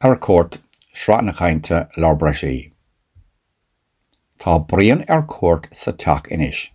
Ar Cuairt, Sraith na Cainte, Lár Breisigh. Tá Brian ar cuairt sa teach anois.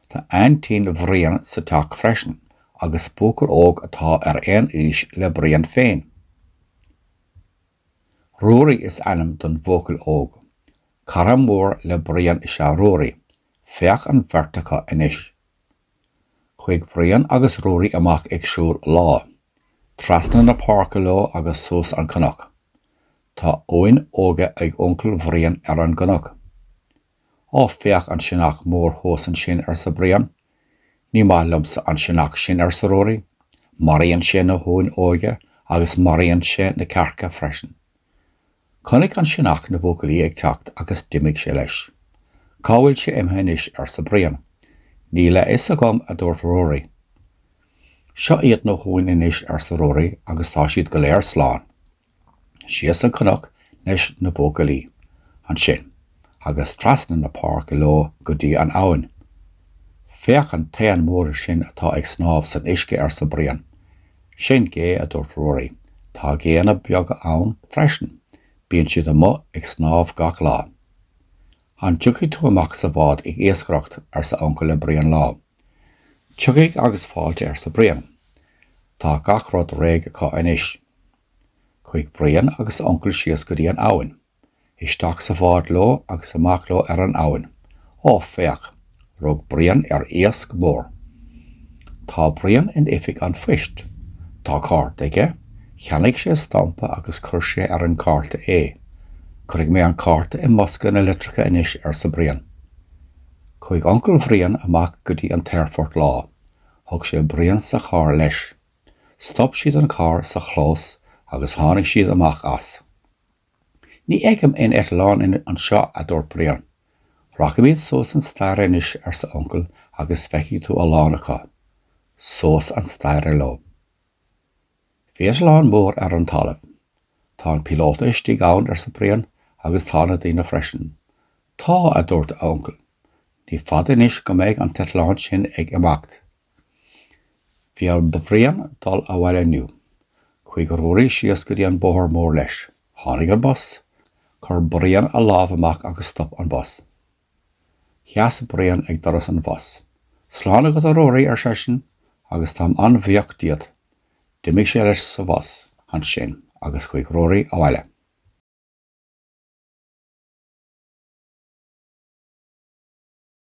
Tá aintín Bhriain sa teach freisin agus buachaill óg atá ar aon aois le Brian féin. Ruairí is ainm don bhuachaill óg. Cara mór le Brian is ea Ruairí. Féach an bheirt acu anois. Chuaigh Brian agus Ruairí amach ag siúl lá, trasna na páirce leo agus suas an cnoc. Tá uain óga ag uncail Bhriain ar an gcnoc. Ó, féach an sionnach mór thuas ansin, arsa Brian. Ní maith liomsa an sionnach sin, arsa Ruairí. Maraíonn sé na huain óga agus maraíonn sé na cearca freisin. Chonaic an sionnach na buachaillí ag teacht agus d'imigh sé leis. Cá bhfuil sé imithe anois? arsa Brian. Níl a fhios agam, a dúirt Ruairí. Seo iad na huain anois, arsa Ruairí, agus tá siad go léir slán. Síos an cnoc leis na buachaillí ansin agus trasna na páirce leo go dtí an abhainn. Féach an t-éan mór sin atá ag snámh san uisce, arsa Brian. Sin gé, a dúirt Ruairí. Tá géanna beaga ann freisin. Bíonn siad amuigh ag snámh gach lá. An dtiocfaidh tú amach sa bhád ag iascaireacht? arsa Uncail le Brian lá. Tiocfaidh agus fáilte, arsa Brian. Tá gach rud réidh acu anois. Chuaigh Brian agus a uncail síos go dtí an abhainn. Isteach sa bhád leo agus amach leo ar an abhainn. Ó, féach! Rug Brian ar iasc mór. Tá Brian in oifig an phoist. Tá cárta aige. Cheannaigh sé stampa agus chuir sé ar an gcárta é. Cuirfidh mé an cárta i mbosca na litreacha anois, arsa Brian. Chuaigh uncail Bhriain amach go dtí an t-aerfort lá. Thug sé Brian sa charr leis. Stop siad an carr sa chlós agus tháinig siad amach as. Ní fheicim aon eitleán anseo, a dúirt Brian. Rachaimid suas an staighre anois, arsa Uncail, agus feicfidh tú a lán acu. Suas an staighre leo. Féach eitleán mór ar an talamh. Tá an píolóta istigh ann, arsa Brian, agus tá na daoine freisin. Tá, a dúirt a uncail. Ní fada anois go mbeidh an t-eitleán sin ag imeacht. Bhí ar Bhrian dul abhaile inniu. Chuaigh Ruairí síos go dtí an bóthar mór leis. Tháinig an bus. Chuir Brian a lámh amach agus stop an bus. Sheas Brian ag doras an bhus. Slán agat, a Ruairí, ar seisean, agus táim an-bhuíoch díot. D'imigh sé leis sa bhus ansin agus chuaigh Ruairí abhaile.